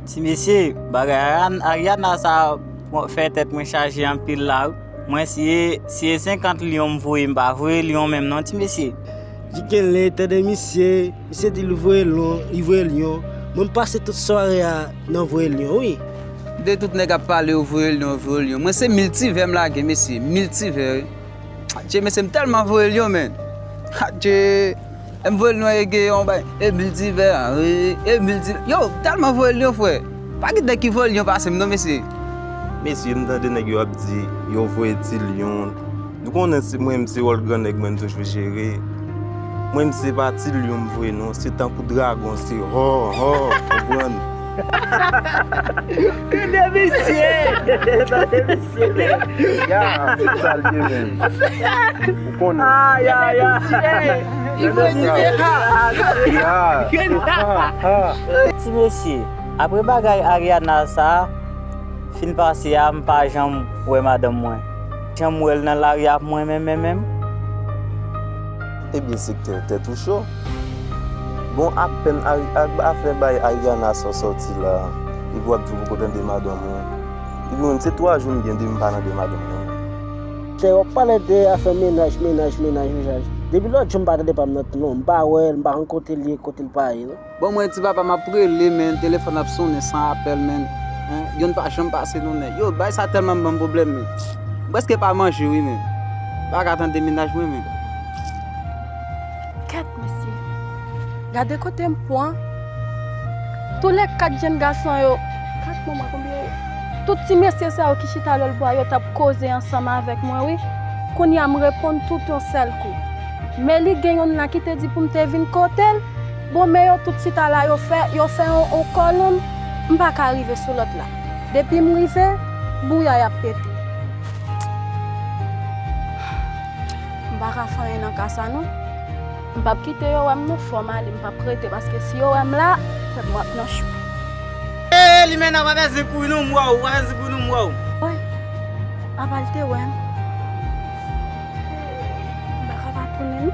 Ti mesye bagay Ariana sa fè tèt mwen chaje anpil la wi. Mwen si si e 50 lion m voye m pa voye lion menm non ti mesye. Li genlè tande misye, misye di li voye lion, li voye lion, mwen m pase tout sware a nan voye lion wi. Kote tout nèg ap pale yo voye lion yo voye lion mwen se miltivè m lage mesye miltivè wi. Adjee mesye m tèlman voye lion menn adjee. Em voyel nou e gen yon bagay e miltivè e milti yow telman voyel yon frè pa gen nèg ki voye lion pasem non mesye. Mesye m tande nèg yo ap di yo voye ti lion nou konnen se mwen se wòl gran nèg mwen m toujou jere mwen se pa ti lion m voye non se tankou dragon se hò hò ou konprann. Tou 2 visye. Tou 2 visye menm. Ya tout sa li ye menm. Ou konnen. Ayayay. Tou 2 visye. Ti mesye apre bagay Ariana sa fin pase a m pa janm wè madanm mwen. Janm wè l nan lari ap mwen menm menm menm. Ebyen sektè tèt ou cho. Bon apèn Agba fè bay Ariana sa sòti la epi wap di ou poko tande madanm ou Ebyen mwen menm se 3 jou mgen depi mpa tande madanm mwen. Kè wap pale de afè mennaj mennaj mennaj mennaj depi lòt jou mpa tande pam nan non mpa wèl mpa konn kotel ye kotel pa ye non. Bon mwen ti papa map rele men telefòn ap sonnen san apèl men yonn pa janm pase non men yo bay sa tèlman banm problèm men m prèske pa manje wi men m paka tande mennaj mwen men. Kèt mesye gade kote m pwan tou le 4 jenn gason yo 4 non mwen konbyen yo tout ti mesye sa yo ki chita lòlbwa yo tap koze ansanm avèk mwen wi kounya m reponn tout yon sèl kou men li gen yonn la ki te di poum te vin kotel. Bon men yo tout chita la yo fè yo fè on kòlonn m pa ka rive sou lòt la depi m rive bouyay ap pete m pa ka fè anyen nan ka sa non m pap kite yo wè m non fò m ale m pap rete paske si yo wè m la kwè m wap nan chou. Eee limena pa fè zen kouri non m wè w pa fè zen kouri non m wè w. Woy apa l te wè m eee m pa ka pa tounen non.